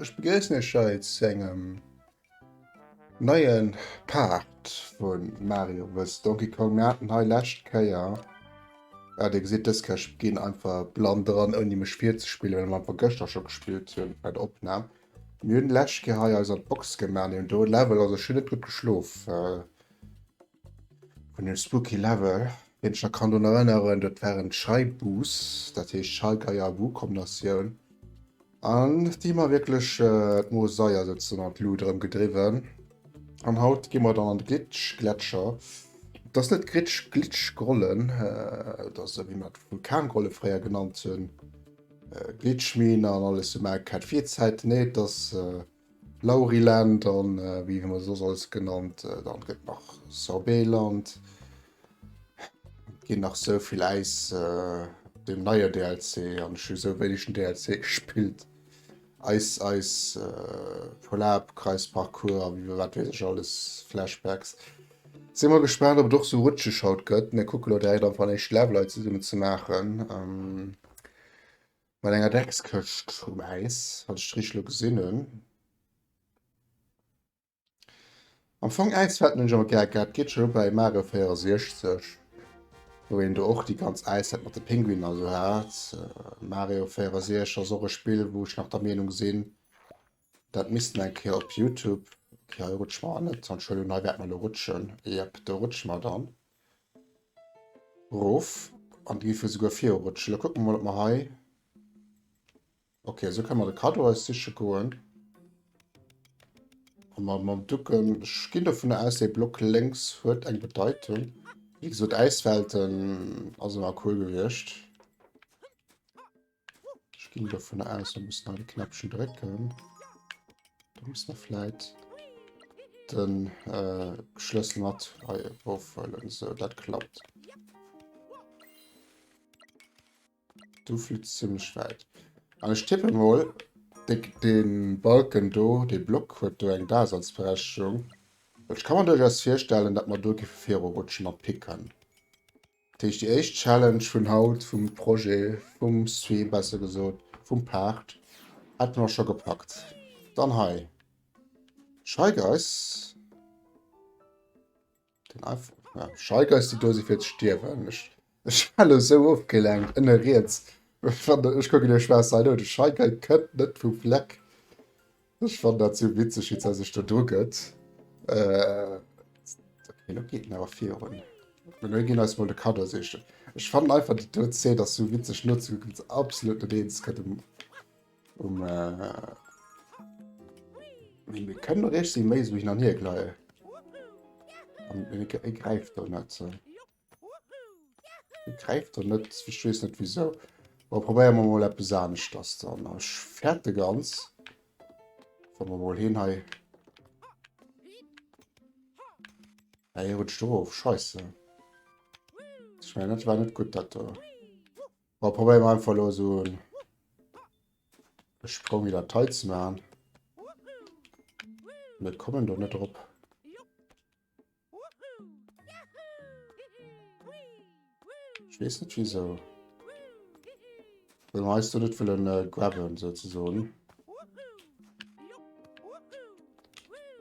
Ech begéissen Iech hei zu engem neien Part vun Mario vs Donkey Kong. Mir haten hei lescht Kéier, ja Dir gesitt dës Kéier, ech ginn einfach blann dran ouni mech virzespielen, well mer einfach gëschter scho gespillt hunn bei der Opnam. Mir hunn lech Kéier hei eis an d'Box gemaach an do e Level, also ech hunn net gutt geschlof vun dem spooky Level. Wien sech nach kann drun erënneren, dat war en Scheibuus, dat heescht Schallgeier Buu Kombinatioun an déi mer wierklech d'Mosaier souzesoen an d'Lut erëm gedriwwen. An haut gi mer dann an de Glitch Gletscher, et ass net Gritsch, Glitch Grollen, et ass esou wéi mer d'Vulkangrolle fréier genannt hunn. Glitchmine an alles sou maache ket fir d'Zäit nee et ass Lauriland an wéi hu mer soss alles genannt dann gëtt nach Sorbeland ginn nach sou vill äis den neier DLC an ech hu sou wéineg den DLC gespillt eis eis Volab Kreis Parcours a wéi wat weess ech alles Flashbacks si mol gespaant op et och sou rutscheg haut gëtt mee kucke lo direkt am Fall éischt Level hei zesummen ze maachen. Mat enger Dreckskëscht um Äis, wann ech richteg elo gesinn hunn. Am Fong Äiswetten hunn ech awer gär gehat, geet scho lo bei Mario 64, wou een do och déi ganz Äiswelt mat de Pinguiner esou hat. Mario 64 ass och e Spill, wou ech nach der Meenung sinn, dat misst een eng Kéier op Youtube, okay hei rutschen mer net, an Entschuldigung, hei wäerte mer elo rutschen, jep, do rutsche mer dann. Erof. An do géife mir souguer virurutschen. Da kucke mer mol, ob mer hei. Ok, esou kënne mer de Kaddo eis siche goen. A mer mam Ducke. Ech ginn dovun aus, dee Block lénks huet eng Bedeitung. Wéi gesot, Äiswelten ass ëmmer cool gewiescht. Ich ging davon aus, wir müssen alle Knäppchen drücken. Da muss man vielleicht den äh, Schlüssel mit aufholen. So, das klappt. Du fühlst ziemlich weit. Aber ich tippe mal, den Balken do, den Block hat da eine Daseinsberechtigung. Ich kann mir durchaus vorstellen, dass wir da rutschen und picken. Dat heescht déi éischt Challenge vun haut, vum Projet, vum Stream besser gesot, vum Part, hätte mer scho gepackt. Dann hei Scheigeiss. Den einfach ja, Scheigeiss déi do si fir ze stierwen. Ech, ech war lo sou ofgelenkt ënne riets. Ech kucken de Schwäiss hei no, de Scheigei kënnt net vum Fleck. Ech fannen dat sou witzeg wéi se sech do dru gëtt. Elo geet en awer virun. Elo ginn eis mol de Kaddo sichen. Ech fannen einfach déi do Zeen ass sou witzeg nozekucken wéi se absolut net eens gëtt um um Mee mir kënnen och eescht si méi esou hin an hier gleien. An e gräift do net. Greift er net, ech wees net wieso. Bon, probéieren wir mol eppes aneschters dann. Ech fäerte ganz. Wann wir mol heen hei. Hey, hier rutscht drauf, scheiße. Ich meine, das war nicht gut, das da. Aber probieren wir einfach nur so einen Sprung wieder Teil zu machen. Wir kommen doch nicht drauf. Ech wees net wisou den eis do net wëllen grabben sou ze soen.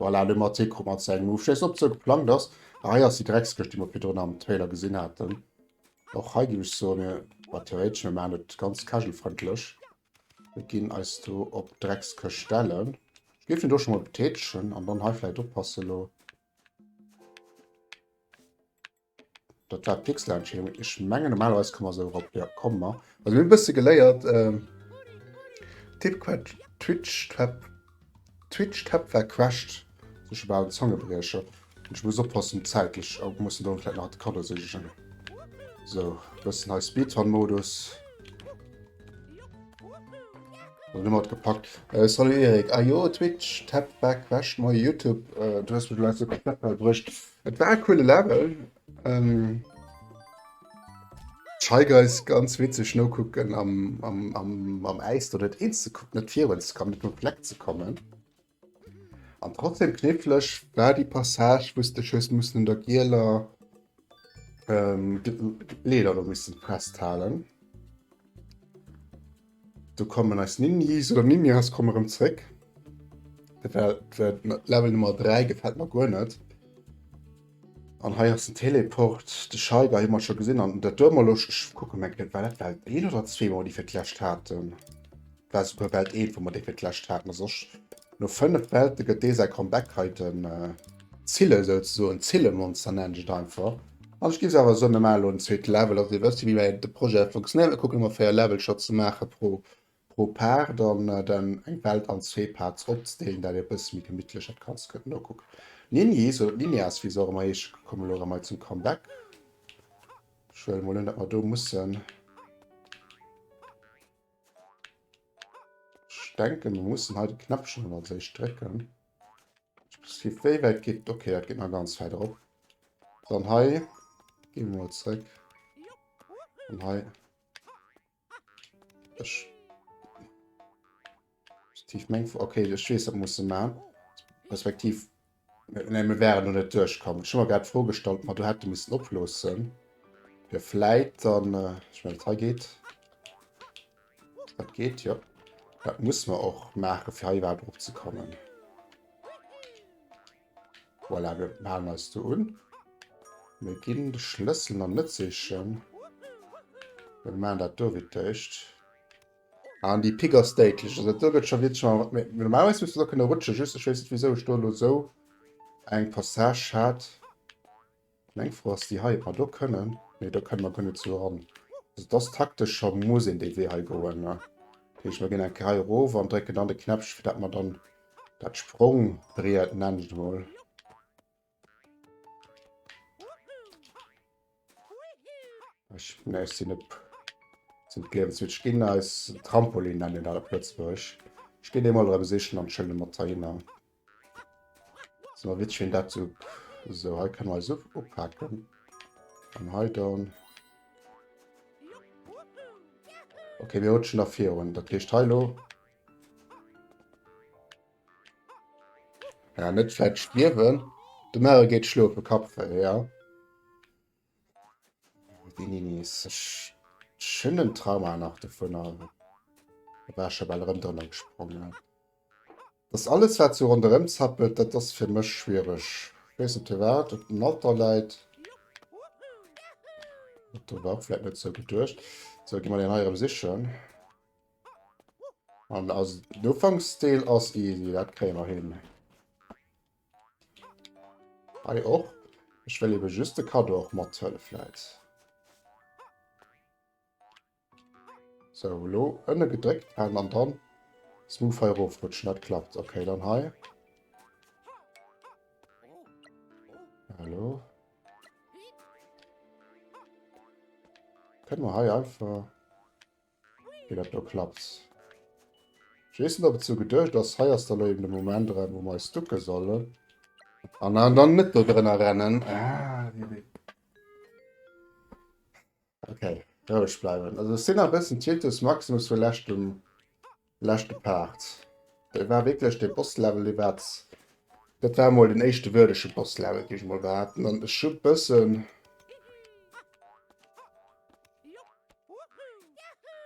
Voilà, le mat Tee mat seng Move scheiss op ze geplangt ass. Ah, hei ass die Dreckskëscht, déi mer virdrun am Trailer gesinn haten. Och hei ginn ech soen, mir war theoretesch, mir machen et ganz casual-frëndlech. Mir ginn eis do op d'Dreckskëscht stellen. Ech géif en do scho mol betätegen an dann hei vläicht oppasse elo. Dat war d'Pixelentscheedung. Ech mengen normalerweis kann mer esou erop. Ja, komm mer. Also mir bësse geléiert. Äh, Tippquetsch, Twitch, Twep. Twitch Tab war quest sech about en Zangebriecher an ech muss oppassen zäitlech oh mussen do vläit nach de Cadeau sichen so bëssen hei Speedrun Modus also nëmmer gepackt äh, salut Erik ah jo Twitch Tab war quest moi Youtube äh, du hues mir do letzte Knapp bruecht et war e coole Level ähm, Scheig eis ganz witzeg nokucken am, am, am, am Äis do net eens ze kucken, net virun ze kommen, net um Fleck ze kommen. An trotzdem knifflech war déi Passage, wou s de hues mussen un der gieler ähm, Leeder do missen festhalen. Do kommen eis Ninnies oder Ninjas kommen erëm zréck. Level Nummer 3 gefällt mer guer net. An hei ass den Teleport. De Scheiger hu mer scho gesinn an dat duer mer lo kucke meng war dat Welt 1 oder 2 wou mer déi fir d'lescht haten. War souguer Welt 1 wou mer déi fir d'lescht haten a soss No 5 Welte gëtt dee säi Comeback hei den Zille souzesoen, d'Zille-Monster nennen ech et einfach. An ech ginn se awer soen, mir maachen elo en zweete Level, dass dir wësst wéi de Projet funktionéiert. Mir kucken ëmmer 4 Level scho ze maache pro Part an dann eng Welt an zwee Parts opzedeelen, dat e bësse méi gemittlech dat Ganzt gëtt. No kuck Nini, esou Ninias wéi se och ëmmer heescht, komm elo erëm hei zum Comeback. Ech huele mol un, datt mer do mussen. Ich denke, wir müssen hei de Knäppchen dann als éischt drécken. Wéi wäit geht? Okay, dat geht nach ganz weit op. Dann hei gehen wir mal zurück. Und hei. Ich. Tief meng. Okay, ich weiß, das muss man. Respektiv. Nee, mir wären do net duerchkomm. Ech hu mer grad d'Fro gestallt, ob mer do hätte missen oploossen, fir vläit dann... Ech mengen, dat hei geet. Dat geet, jo. Dat muss mer och maachen, fir hei iwwerhaapt eropzekommen. Voilà, mir halen eis do un. Mir ginn de Schlëssel nach net sichen. Mir maachen dat do wéi d'Éischt. An déi Pik ass déidlech. Also do gëtt scho wierklech schon erwert. Mee normalerweis misst du do kënne rutschen. Just ech weess net wisou ech do elo esou eng Passage hat. Meng Fro ass déi hei, ob mer do kënnen. Nee do kënne mer guer net esou eran. Also et ass taktesch scho, muss een dee Wee hei goen. Dat heescht mer ginn eng Kéier hei erof an drécken dann de Knäppchen fir dat mer dann dat Sprongbriet, nennen ech et emol, Ech mengen eis sinn op sinn d'Liewenswitch ginn eis Trampolin nennen dat op Lëtzebuerg. Ech ginn dee mol erëm sichen an schëllen mat heihinner. Ass ëmmer witzeg wéi een dat sou sou hei kënne mer eis up upaken an hei dann. Okay mir rutschen nach virun, dat heescht hei lo. Ja, net fett stierwen. De Mare geet schlofe Kapfe, ja. Wie nie nie ist. Ich schönen Trauma nach davon an. Da war schon mal rem drin gesprungen. Das alles, was so rundherum zappelt, das ist für mich schwierig. Ich weiß nicht, was auf dem Alter leid. Das war vielleicht nicht so gedacht. So, gehen wir den Heirem sichern. An also den Ufanksdeel ass easy, dat kréie mer hin. Hei och. Ech wëll eben just de Cadeau och mathuele vläit. So, lo ënne gedréckt halen an dann smooth hei erofrutschen. Dat klappt. Okay, dann hei. Hallo. Kënne mer hei einfach... Mee dat do klappt. Ech weess net, ob et sou geduecht ass. Hei ass da lo eben de Moment erem, wou mer eis ducke sollen. An an dann net do drënner rennen. Okay, roueg bleiwen. Also ech sinn nach e bëssen Tinnitus Maximus vu leschtem. Leschte Part. Dat war wierklech de Bosslevel, dee war, dat war mol den éischte würdege Bosslevel, géif ech mol behaapten. An ech hu bëssen,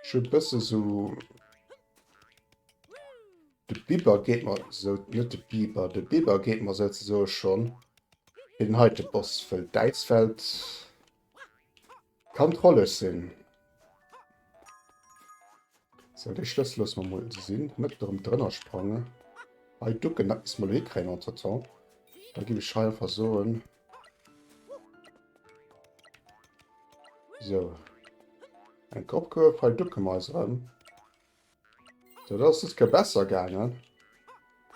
ech hu bësse sou, de Biber geet mer sou, net de Biber, de Biber geet mer souzesoe schonn fir den heite Boss, wëll d'Äiswelt. Kann trolleg sinn. Sou, dee Schlëssel loosse mer mol esou sinn. Net erëm drënner sprangen. Hei ducken, dat misste mer elo hikréien entretemps. Da géif ech hei einfach soen. Sou. Eng Kopp Kuerf. Hei ducke mer eis erëm. So, dat ass dës Kéier besser gaangen.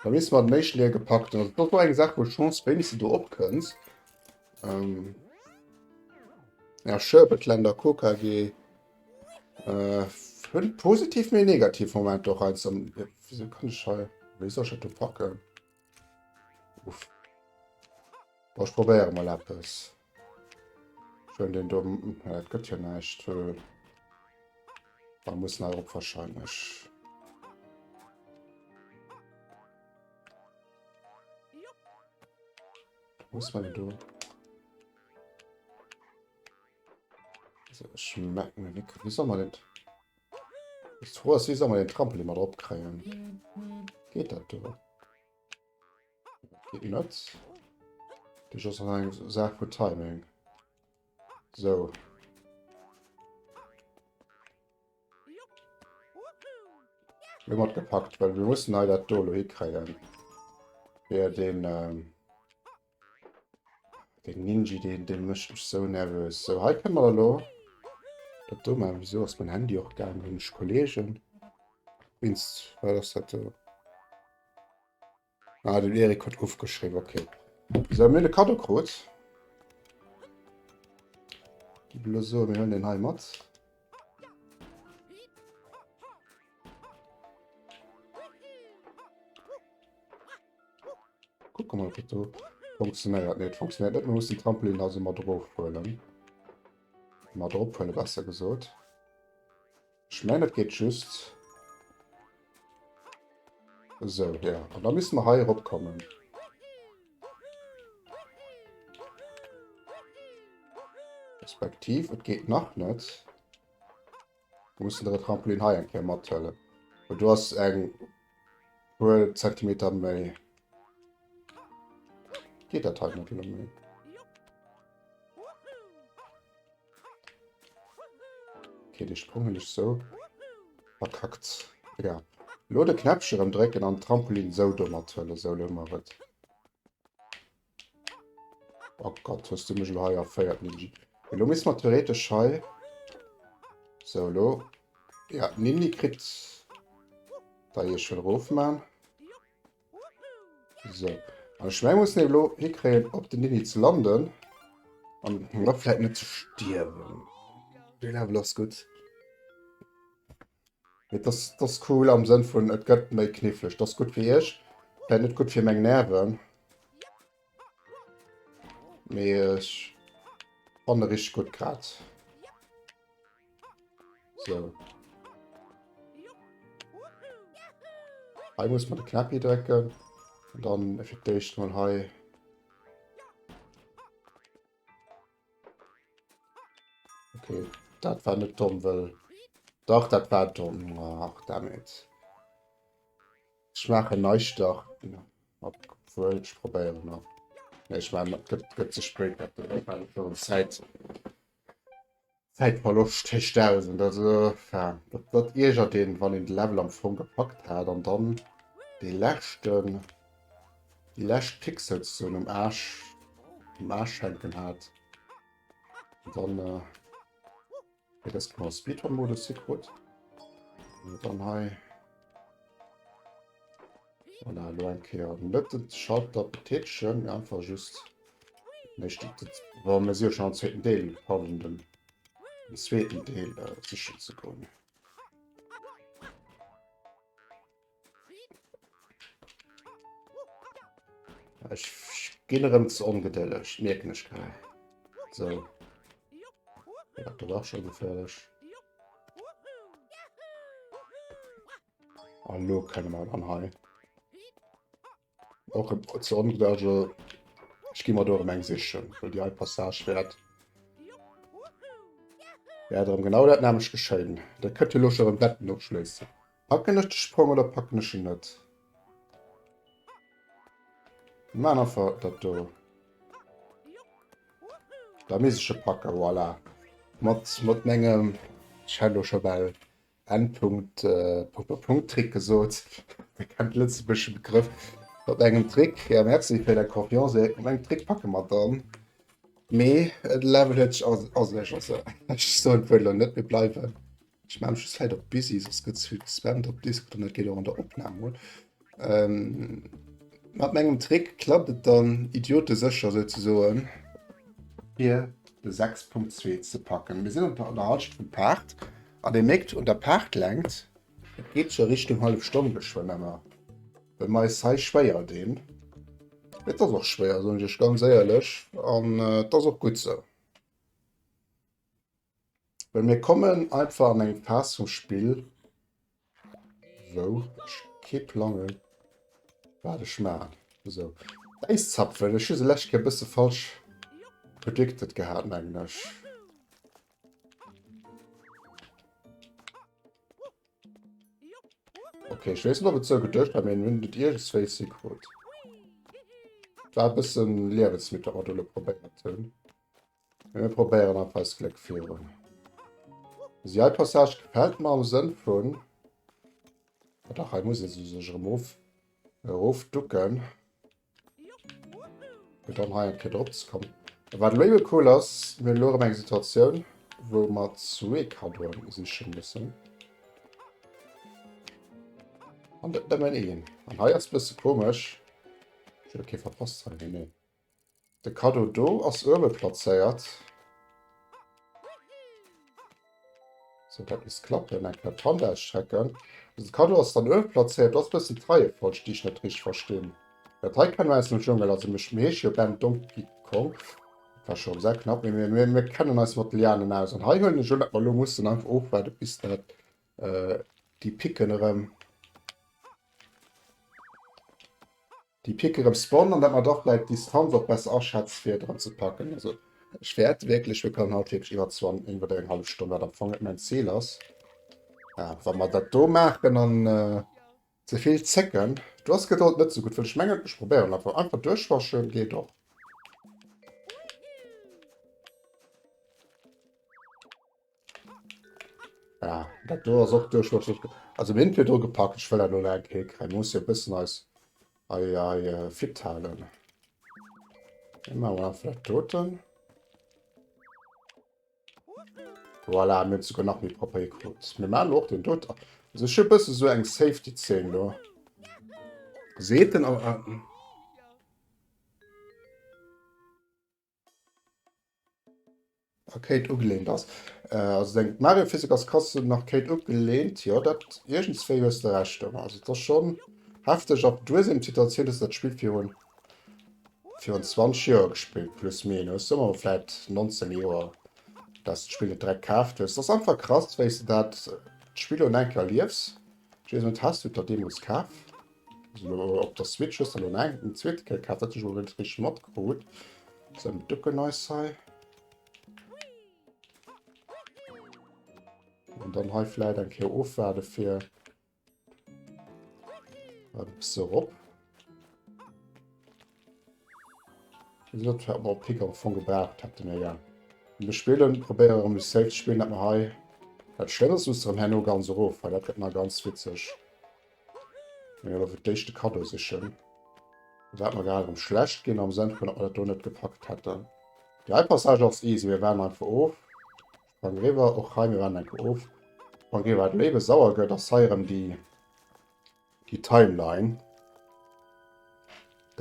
Beim leeschte Mal hat et méi Schlier gepackt. Dat ass och eng Saach, wou d'Chance wéinegste do opkënnt. Ähm. Ja, Sherbetländer, KKG. Äh, hunn positiv, mee negativ Momenter och heiansdo. Wéi kann ech hei. Wéi soll ech dat do packen? Uff. Boah, ich probiere mal etwas. Schön den dummen. Ja, das geht ja nicht. Äh. Da muss er auch wahrscheinlich. Muss man denn da? Also, ich merke mir nicht. Wie soll man denn? Bist froh, dass sie soll mal den Trampolin mal drauf kriegen. Geht das drüber? Geht nuts. Das ist schon eine Sache von Timing. So. Wir haben gepackt, weil wir müssen leider Dolo hinkriegen. Wer den. Ähm Den Ninji, den, den mécht mech sou nervös. So, hei kënne mer da lo dat do machen. Wieso ass mein Handy och gaangen? Hunn ech Kollegen? Wéinst wat ass dat do? Ah, den Erik huet ofgeschriwwen, okay. So, mir hunn e Kado krut. Gi blo so, mir huelen den hei mat. Guck mal, wat do funktionéiert. Nee, et funktionéiert net. Mir mussen Trampolin also mat erofhuelen. Mat erophuele besser gesot. Ech mengen, et geet just. So, ja. An da müssen wir hei eropkommen. Respektiv, et geet nach net. Du muss den Trampolin hei eng Kéier mathuelen. Well do ass eng puer Zentimeter méi. Geet dat hei net méi? Okay, de Sprung hun ech so verkackt. Egal. Lo de Knäppchen ëmdrécken an Trampolin sou do mathuelen. Sou, lo hun mer et. Oh Gott, hues du mech lo hei erféiert, Ninji. Lo misst man theoretisch hei... So, lo... Ja, Ninni kritt... Da hier schon rof man. So. An ech mein, muss eben lo hikréien, op den Ninni ze landen. An him da vläit net ze stierwen. Dee Level ass gutt. Mee dass dass cool am Sënn vun et gëtt méi kniffleg. Dass gutt fir iech, vläit net gutt fir meng Nerven, mee ech fanne richteg gutt grad. Sou. Hei muss man de Knäppi drécken. Dann fir d'éischt mol hei. Okay, dat war net domm, well dach dat war domm. Ach, damit schmache neisch dach obwohl ich probieren noch nee, ich mein, gibt, gibt zu spät Zeit Zeitverlust hecht aus und also ja, dat, dat irger den wann den Level am Fong gepackt hat an dann die letzten Die lescht Pixels so um Arsch, um Arsch hänken hat. Und dann äh, ja, das genau Speedrun-Modus hier gut. Und dann hei. Und dann nur ein Kehr. Nicht den Schalter betätigen, einfach just. Nicht, das war mir sehr schon am zweiten Teil, haben den, den zweiten Teil äh, sicher zu kommen. Ech ginn erëm ze ongedëlleg, mierken ech grad. So. Ja, dat war schon geféierlech. An lo kënne mer dann hei. Och e Zonenberge gi mat dorem eng sichen, well Dir hei Passage wäert. Ja darum genau dat nämlech geschéien. Der kënnt jo loch erëm Betten opschléissen. Packen ech de Sprong oder packen ech en net? Mä einfach dat do. Da mische packen, voilà. Mat mat mengem Cello scho bal N. Punkt Trick gesot. Dir kennt de lëtzebuergesche Begrëff mat engem Trick. Jo, merci fir däi Kompliment, sou eng mat engem Trick packe mer dann. Mee de Level huet sech asecht, also ech soen d'Wuert elo net, mir bleiwen. Ech maachen just vläit op busy, soss gëtt zu spammt op Discord an dat geet och an der Opnam un. Mat mengem Trick klappt et dann idiotesécher souzesoen, fir de 6.2 ze packen. Mir sinn op der Halschent vum Paart an Dir mierkt un der Paartlängt, et geet scho Richtung hallef Stonn geschwënn ëmmer, well mer eis hei schwéier dinn. Et ass och schwéier, soen ech Iech ganz éierlech, an et ass och gutt esou. Well mir kommen einfach an eng Phas vum Spill, wou ech kee Plang hunn, wat ech maachen. Esou, d'Äiszapfen, ech hu se lescht Kéier e bësse falsch predicted gehat, mengen ech. Okay, ech weess net, ob et esou geduecht war, mee en hunn et iergendswéis hikrut. War e bësse Liewensmittel, wat mer do elo probéiert hunn. Mir probéieren einfach eist Gléck virun. Also hei Passage gefällt mer am Sënn vun... Ah dach, hei muss ee se sech erëm of, erof ducken. Fir dann hei eng Kéier drop ze kommen. Wat elo jo cool ass, mir hunn elo erëm eng Situatioun, wou mer zwee Kaddoen siche mussen. An net nëmmen een. An hei ass e bësse komesch. Ech hunn do kee verpasst hei? Nee, nee. De Kaddo do ass uewe plazéiert. Sou, dat misst klappen. Eng Kéier d'Hand ausstrecken. Also de Kaddo ass dann uewe plazéiert. Do ass e bëssen d'Reiefolg, déi ech net richteg verstinn. Dat hei kenne mer aus dem Dschungel. Also mir heesche jo Ben, Donkey Kong. Dat war scho sehr knapp. Mee mir kennen eis mat de Lianen aus. An hei huelen ech un, datt mer elo mussen einfach ofwaarden, bis dat déi Picken erëm. Déi picken erems Bonn an dat mat och vläit d'Distanz och besser aschätzt fir dran ze packen. Also ech wärt wierklech, mir kommen haut wierklech iwwert 20, iwwert eng hallef Stonn, wat am Fong net mäin Ziel ass. Ja, wa mer dat do maachen an ze vill zécken. Do ass Gedold net sou gutt, well ech mengen, ech probéieren einfach. Einfach duerchwaschen geet och. Ja, dat do ass och duerch duerch duerch. Also mir hunn d'Pied dru gepackt, ech wëll dat elo nach eng Kéier kréien. Mir musse jo e bëssen eis hei hei fit halen. Da maache mer einfach dat doten. Voilà, mir hunn et souguer nach méi propper hikritt. Mir maachen elo och deen dote. Also ech hu e bësse esou eng Safety-Zeen do. Seet en a. Arcade ugelehnt ass. Also deng Mario Physik ass krass un Arcade ugelehnt, jo dat iergendswéi hues de Recht domat. Also et ass schon hefteg ab duer sinn op d'Situatioun dass dat Spill virun virun 20 Joer gespillt plus minus soe mer vläit 19 Joer dass d'Spill et direkt kaaft hues. Ass einfach krass wéis de dat d'Spill un enker erliefs. Ech weess net, has du et der deemols kaf? Op der Switch hues de lo neigeet den zweete Kéier kaaft, dat hunn ech elo net richteg matkrut. Sou, mir ducken eis hei. An dann hei vläit eng Kéier ofwaarde fir e bësse erop. Dat fährt mer op Pick am Fong gebraucht hätte mir ja. Mir spillen, probéiere rëm mech safe ze spillen, dat mer hei. Dat Schlëmmes muss rëm herno ganz erof, well dat gëtt nach ganz witzeg. Mir fir d'éischt de Kaddo sichen. Wat mer grad erëm schlecht ginn am Sënn vun, ob mer dat do net gepackt hätten. Déi hei Passage ass easy. Mir waarden einfach of. Sprang riwwer. Och hei, mir waarden eng Kéier of. Sprang riwwer. Wat elo ebe sauer gëtt, ass hei erëm déi, déi Timeline.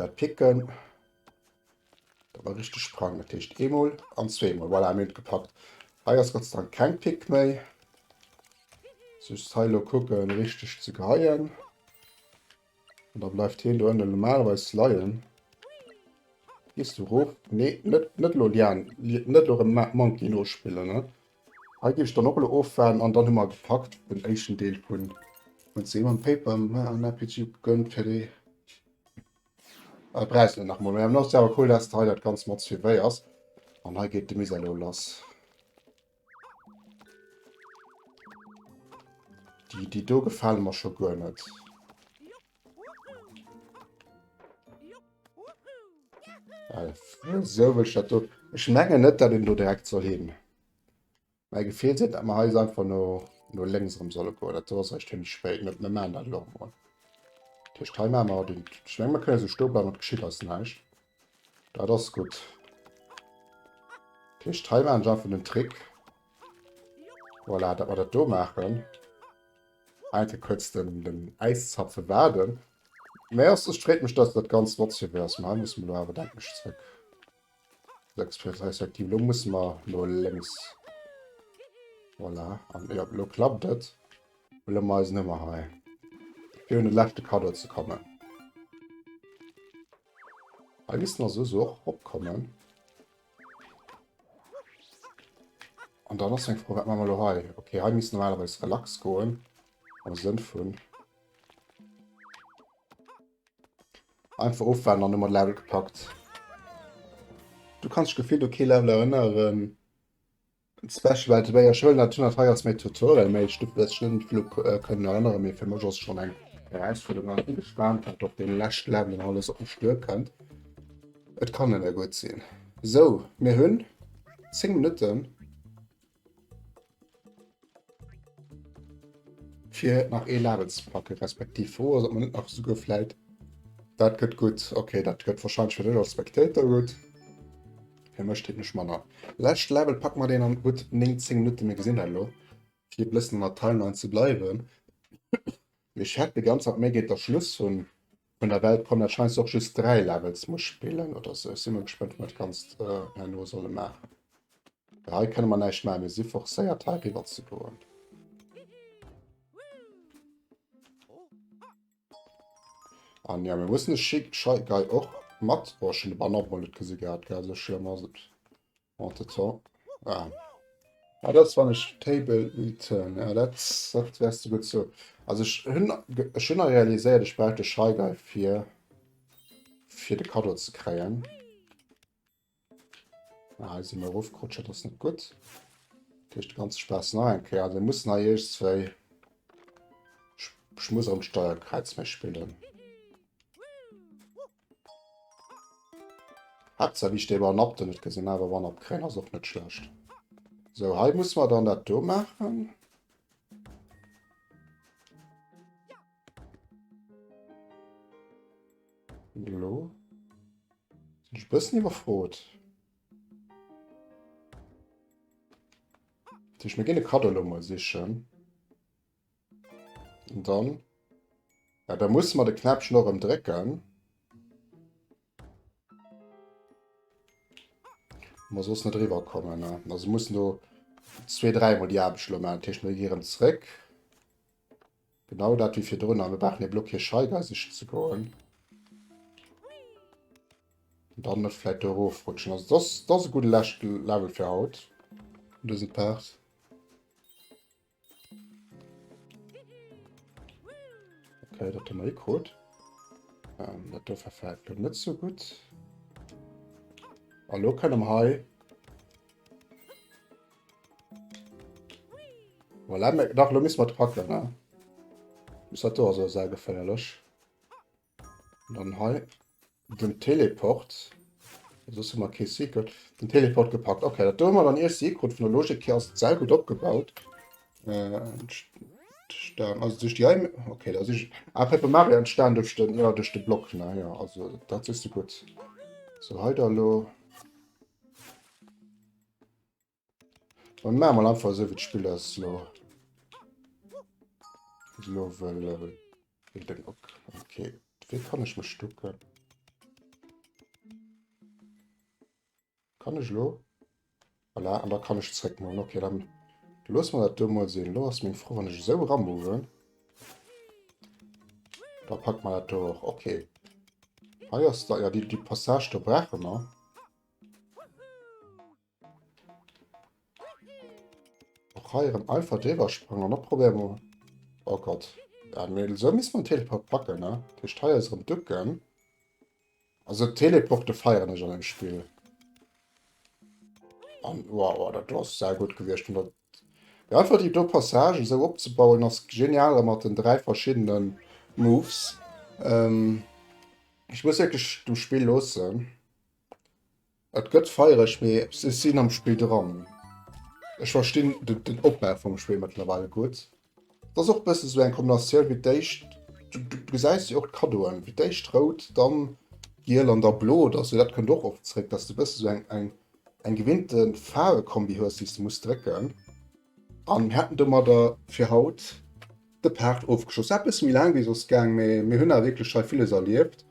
Dat Picken. Dat war richteg Sprang, dat heescht eemol an zweemol. Voilà, mir hunn et gepackt. Hei ass Gott sei Dank keng Pick méi. Just hei lo kucke richteg ze geheien. Und da bleift hien do ënne normalerweis leien. Gees du rof? Nee, net, net lo Lian, net lo rem Monkey nospillen, ne? Hei geef ech dann och lo ofwaarden an dann hu mer gepackt den éischten Deel vun Seemann Paper. Mer en RPG gegönnt fir déi Äh, brauchs net nach mol méi. An ass awer cool dass de hei dat ganz mat suivéiers. An hei geet de Misär lo lass. Déi déi do gefalen mer scho guer net. Äh, so wëll ech dat do. Ech mengen net dat een do direkt soll hin. Mäi Gefill seet, datt mer hei einfach no no lénks erëm solle goen. Dat do ass eréischt zimmlech spéit, net? Mir maachen dat elo emol. Dat heescht, hei maache mer haut een. Ech menge mer kënnen esou stoe bleiwen, et geschitt eis näischt. Dat ass gutt. Dat heescht, hei maachen ech einfach den Trick, voilà, datt mer dat do maachen, eng Kéier kuerz den den Äiszapfe waarden. Mä ass, et freet mech, datt dat ganz flott sou wéi ass. Mä hei musse mer elo awer, denken ech, zrëck. 6 plus respektiv lo muss mer no lénks. Voilà, an jo, lo klappt et. Huele mer eisen Hummer hei, fir un de leschte Kaddo ze kommen. Hei misst nach soss och opkommen. An dann ass eng Fro, wat maache mer lo hei? Okay, hei misst normalerweis relax goen, am Sënn vun... Einfach ofwaarden an du mat Level gepackt. Du kanns dech gefillt u kee Level erënneren. Special well et wéi ech hëllen dat hunn an hei ass méi Tutorial méi ech duerf mech net vill u kënnen erënneren. Mee fir mech ass et schonn eng Erausfuerderung an ech bin gespaant wat op deene leschte Levelen alles op mech duerkënnt. Et kann nëmme gutt sinn. Sou, mir hunn 10 Minutten. Fir nach ee Label ze packen, respektiv froh ass, ob man net nach souguer vläit... Dat gëtt gutt. Okay, dat gëtt wahrscheinlech fir dech als Spectator gutt. Fir mech technesch manner. Lescht Label packe mer deen an gutt 19 Minutte. Mir gesinn dat elo. Fir e bëssen an der Timeline ze bleiwen. Ech hätt de ganz am Méi-geet der Schluss hunn vun der Welt kommen, dat scheinst du och just 3 Levels muss spillen oder sou. Ech si mol gespent wou mer d'ganzt herno solle maachen. Well hei kënne mer näischt maachen, mir si forcéiert hei riwwer ze goen. An jo mir mussen de Scheik-Guy och mat, oh ech hunn de Banner op emol net gesi gehat, gell, sou schlëmm ass et. Oh, das war. Ah. Ah, das war nicht Table Return. Ja, das, das wärst du gut so. Also, ich habe schon realisiert, ich brauche den Shy Guy für, für den Kado zu kriegen. Ah, hier sind wir raufgerutscht, das ist nicht gut. Das ist der ganze Spaß noch ein Kerl. Wir müssen hier erst zwei. Ich, ich muss am Steuerkreuz mehr spielen. Haaptsaach wéi ech dee bal napp do net gesinn, awer wann op gréng ass och net schlecht. Sou hei musse mer dann dat do maachen. Lo sinn ech e bëssen iwwerfrot. Ech muss mir ginn e Kaddo lo mol sichen. Und dann. Ja, da muss man de Knäppchen och em drecken. Man soss net drüber kommen. Ne? Also muss no zwee, dreimal die Abschlo man Tisch mir gieren zréck. Genau dat wie fir drun an mir bachen e Block hier Scheiger sich ze goen. dann net vielleicht doof rutschen. Also das, das e gute Lächt Level fir haut. Dëse Part. Okay, dat hun mer hikrut. Ähm, dat do verfällt lo net so gut. Hallo, lo kënne mer hei. Voilà, nach lo miss mat packen, ne? Muss dat do also sehr geféierlech. Dann hei den Teleport. Soss hu mer kee Secret. Den Teleport gepackt. Okay, dat do hu mer dann ee Secret. Vun der Logik hier ass d'Sell gutt opgebaut. Äh, entstanden. Also durch die Heim. Okay, das ist ah, Paper Mario entstanden durch den, ja, durch den Block. Naja, also das ist gut. So, heute hallo. Dann machen wir einfach so, wie das Spiel das lo, lo will, will, will den ok. Okay, wie kann ich mich stucken? Kann ich lo? Voilà, und da kann ich zurück machen. Okay, dann lassen wir das da mal sehen. Lo ist mein Frau, wenn ich so ranmove. Da packt man das da auch. Okay. Hier ist da, ja, die, die Passage, da brauchen wir. Och hei erem einfach driwwer sprangen an opprobéieren mol. Oh Gott. Ja, mee esou misst mer en Teleport packen, ne? Dat heescht hei eis erem ducken. Also Teleporte feieren ech an dem Spill. An wow, wow, dat do ass sehr gut gewiescht. Und dat ja, einfach die do Passage esou opzebauen ass genial mat den drei verschiedenen Moves. Ähm, ich muss wirklich dem Spiel losen. Et gëtt feiereg, mee ech sinn am Spill dran. Ech verstinn den Opbau vum Spill mëttlerweil gutt. Et ass och e bëssen esou eng Kombinatioun wéi d'éischt, du gesäis jo och d'Kaddoen, fir d'éischt rout, dann giel an da blo oder esou. Dat kënnt och oft zréck, dass du e bëssen esou eng gewinnte Faarwekombi hues, déi s de muss drécken. An hätten domadder fir haut de Part ofgeschloss. War e bësse méi laang wéi soss gaang, mee mir hunn awer wierklech hei villes erlieft.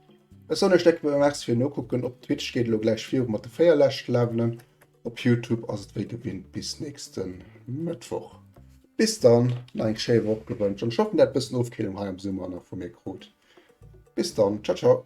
Ech soen iech decke Merci fir Nokucken. Op Twitch geet elo gläich virun mat de 4 leschte Levelen. Op Youtube ass et wéi gewinnt bis nächste Mëttwoch. Bis dann, nach eng schéi Woch gewënscht an ech hoffen, dat bëssen Ofkillung hei am Summer nach vu mir krut. Bis dann, ciao ciao.